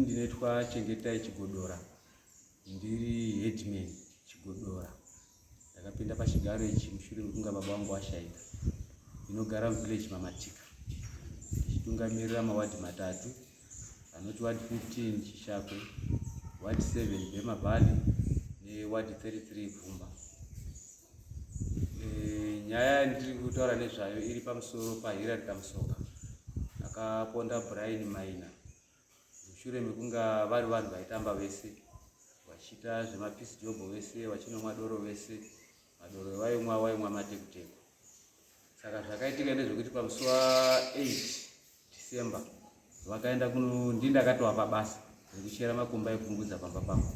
ndinoitwa chengetai chigodora ndiri headman chigodora ndakapinda pachigaro ichi mushure mekunga baba vangu vashaika ndinogara muvillage mamatika ndichitungamirira mawadhi matatu anoti wadi 15 chishakwe wadi 7 bemavhali newadi 33 bvumba eh, nyaya yandiri kutaura nezvayo iri pamusoro pahirari kamusoka akaponda brian maina mushure mekunga vari vanhu vaitamba vese vachiita zvemapeace job vese vachinomwa doro vese madoro evaimwa vaimwa matekuteku saka zvakaitika ndezvekuti pamusi wa 8 december vakaenda kuno ndi ndakatova pabasa rekuchera makomba ekungudza pamba pangu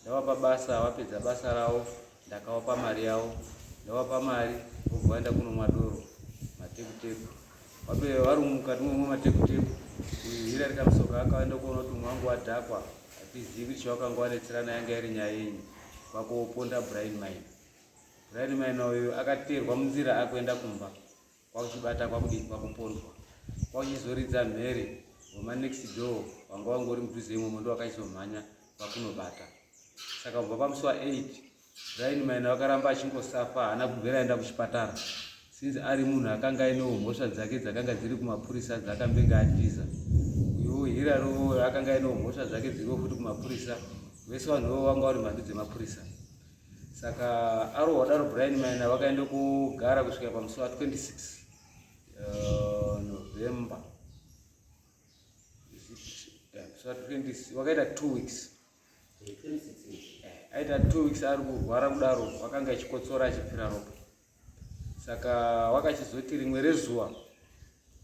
ndava pabasa vapedza basa ravo Ndakawapa mari yavo, ndawapa mari vobva vaenda kunomwa doro matekuteku. Vapere vari mukati momwa matekuteku, uyu hira rikamusoka akaenda kuona kuti mwangu wadhakwa, hatizivi kuti chawakanga wanetserana yanga iri nyaya yenyu, kwakuoponda Brian Maina. Brian Maina uyu akateerwa munzira akuenda kumba. kwakuchibata kwakudii kwakupondwa kwakuchizoridza mhere homa next door wanga wanga uri mudhuze imomo ndo wakaizomhanya kwakunobata saka kubva pamusi wa 8 raini maina wakaramba achingosafa haana kubvera aenda kuchipatara since ari munhu akanga ainewo mhosva dzake dzakanga dziri kumapurisa dzakambenge atiza uyowo hira rowo akanga ainewo mhosva dzake dziriwo futi kumapurisa vese vanhuwo vanga vari mhandu dzemapurisa saka aro wadaro brian maina vakaenda kugara kusvika pamusi wa 26 uh, november vakaita two weeks eh, aita two weeks ari kurwara kudaro vakanga achikotsora achipfira ropa saka wakachizoti rimwe rezuva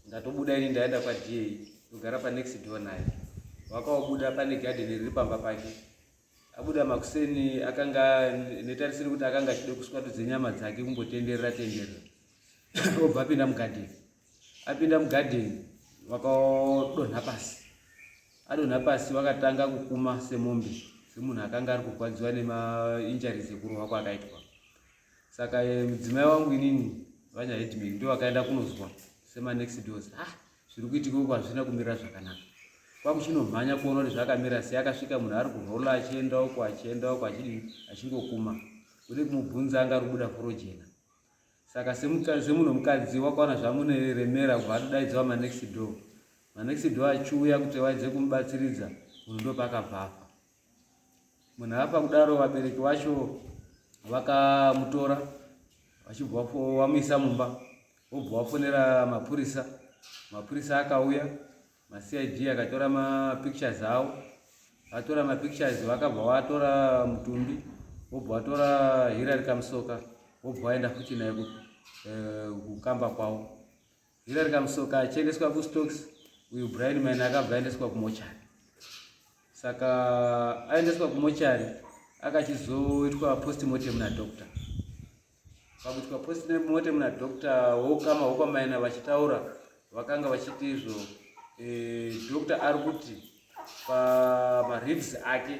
ndatobuda ini ndaenda kwada ndogara panext door naye wakaobuda pane gadheni riri pamba pake abuda makuseni akanga netarisiro kuti akanga achida kuswatudza nyama dzake kumbotenderera tenderera obva apinda mugadheni apinda mugadheni vakadonha pasi adonha pasi vakatanga kukuma semombe semunhu akanga ari kurwadziwa nemainjaries ekurohwa kwaakaitwa saka eh, mudzimai wangu inini vanyahedman ndo vakaenda kunozwa semanext dos ah zviri kuitika uku hazvina kumira zvakanaka kwakuchinomhanya kuona kuti zvakamira sei akasvika munhu ari kurola achienda uko achienda uko achidii achingokuma uri kumubvunza anga rubuda furo jena saka semunhu mukadzi wakaona zvamune remera kubva atodaidzwa manext door manext door achiuya kuti waidze kumubatsiridza munhu ndopakabvafa munhu apa kudaro vabereki vacho vakamutora vachibva vamuisa mumba vobva vafonera mapurisa mapurisa akauya macid akatora mapictures avo vatora mapictures vakabva vatora mutumbi vobva vatora hirari kamusoka vobva vaenda futi naye eh, kukamba kwavo Hillary Kamusoka achiendeswa kustocks uyu Brian Maina akabva aendeswa kumochari saka aendeswa kumochari akachizoitwa postmortem nadoctor pakuitwa postmortem nadoctor wokama wokwamaina vachitaura vakanga vachiti izvo e, doctor ari kuti pamaribs ake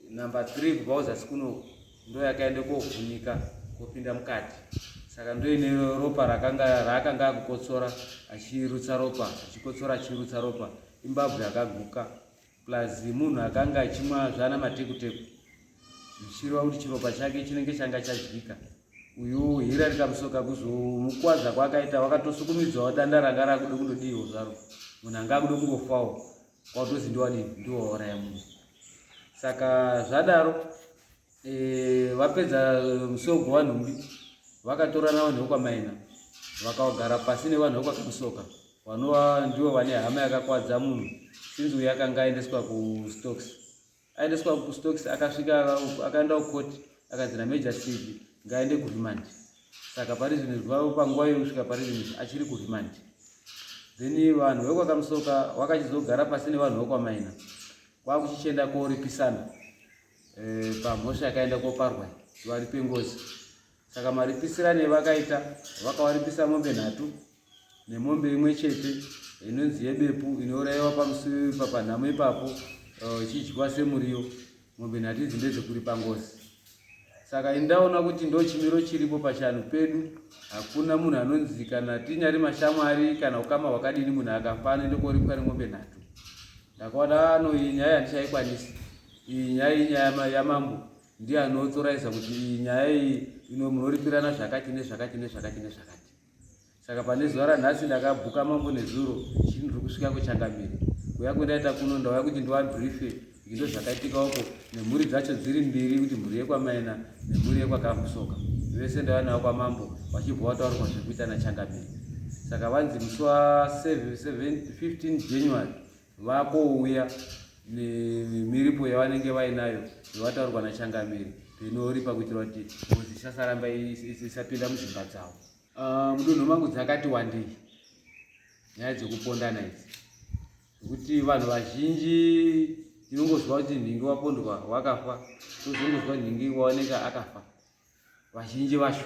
number three kubva kuzasi kuno ndo yakaenda kovhunika kopinda mukati saka ndoine ropa rakanga raakanga akukotsora achirutsa ropa achikotsora achirutsa ropa imbabvu yakaguka plus munhu akanga achimwa zvana matekuteku zvichireva kuti chiropa chake chinenge changa chadyika uyu hira rikamusoka kuzomukwadza kwaakaita wakatosukumidzwawo danda ranga rakuda kundodiiwo zvaro munhu anga akuda kungofawo watozi ndiwadii ndiwauraya munhu saka zvadaro e, vapedza musogo wanhumbi vakatorana vanhu vekwamaina vakagara pasi nevanhu vekwakamusoka vanova ndivo vane hama yakakwadza munhu sinzi uyo akanga aendeswa kustocks aendeswa kustokes akasvika uku akaenda kukoti akanzi nameja cv ngaaende kuremand saka parizvino zvivavo panguva yokusvika parizvino achiri kuremand then vanhu vekwakamusoka wakachizogara pasi nevanhu vekwamaina kwakuchichienda koripisana eh, pamhosva yakaenda koparwa varipe ngozi Saka maripisirane evakaita vakawaripisa mombe nhatu nemombe imwe chete inonzi yebepu inourayiwa pamusuvi papanhamo ipapo eh, ichidyiwa semuriyo mombe nhatu idzi ndedzekuripa ngozi saka indaona kuti ndo chimiro chiripo pachanhu pedu hakuna munhu anonzi kana tinyari mashamwari kana ukama hwakadini munhu akafa anoende koripwa nemombe nhatu ndakaona ano ah, iyi nyaya handichaikwanisi iyi nyaya inyaya yamambo ndiye anotoraisa kuti iyi nyaya iyi ino munoripirana zvakati nezvakati nezvakati nezvakati saka pane zuva ranhasi ndakabhuka mambo nezuro chii ndiri kusvika kuchangamire kuya kwendaita kuno ndauya kuti ndiwabrife indo zvakaitika uko nemhuri dzacho dziri mbiri kuti mhuri yekwamaina nemhuri yekwakamusoka vese ndauya navo kwamambo vachibva vataurwa zvekuita nachangamire saka vanzi musi wa 15 january vakouya nemiripo yavanenge vainayo yavataurwa nachangamiri zvinoripa kuitira kuti ngozi isasaramba isapinda muzvimba dzavo ah, mudunhu mangu dzakati wandei nyaya dzekupondana idzi nekuti vanhu vazhinji tinongoziva kuti nhingi wapondwa wakafa tozongoziva nhingi waoneka akafa vazhinji vacho